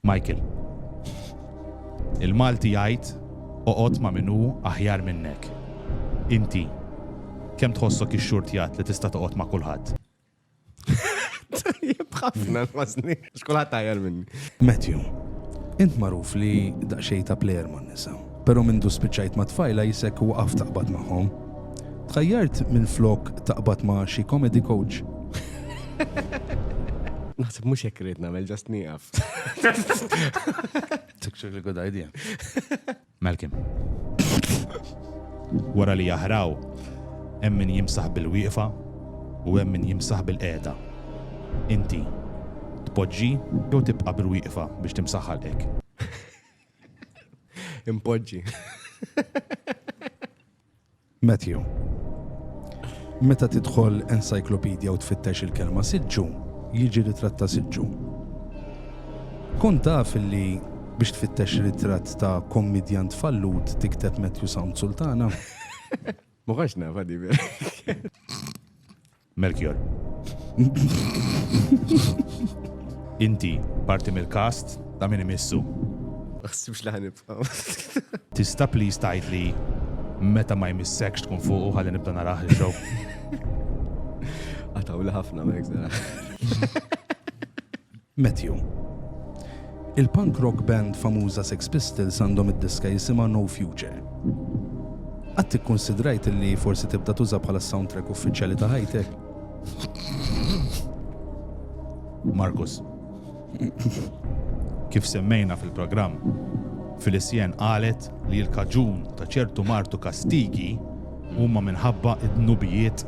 Michael. Il-Malti jgħid oqgħod ma' min hu aħjar minnek. Inti, kemm tħossok ixxurtjat li tista' toqgħod ma' kulħadd? Tajjeb ħafna nħossni għax kulħadd aħjar minni. Matthew. Int magħruf li daqsxejn ta' plejer man-nisa. Pero mindu spiċċajt ma' tfajla jisek waqaft taqbad magħhom. Tħajjart minflok taqbad ma' xi comedy coach. Naħseb mhux hekk rrid nagħmel ġast nieqaf. Tikxu li good idea. Malcolm. Wara li jaħraw, hemm min jimsaħ bil-wieqfa u hemm min jimsaħ bil-qiegħda. Inti tpoġġi jew tibqa' bil-wieqfa biex timsaħħalek. Impoġġi. Matthew, meta tidħol encyclopedia u tfittex il-kelma siġġu, jiġi ritratt ta' siġġu. Kun taf li biex tfittex ritratt ta' kommedjant fallut tikteb Matthew Sound Sultana. Ma għax nafa di Melchior. Inti parti mill-kast ta' min imissu. Għassibx li ħanibqaw. Tista please tajt li meta ma jmissekx tkun fuq u ħalli nibda naraħ il-show. Għataw li ħafna ma jgħidna. Matthew. Il-punk rock band famuża Sex Pistols għandhom id-diska jisimha No Future. Qatt ikkunsidrajt li forsi tibda tuża bħala s-soundtrack uffiċjali ta' ħajtek? Markus. Kif semmejna fil-programm, Filicienne qalet li l-kaġun ta' ċertu mard u kastigi huma minħabba d-dnubijiet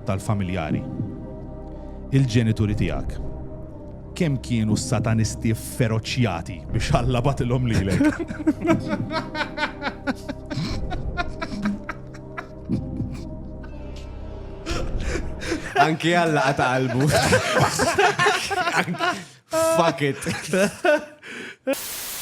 tal-familjari. Il-ġenituri tiegħek kemm kienu satanisti feroċjati biex Alla batilhom lilek? Anki Alla qata' qalbu. Fuck it.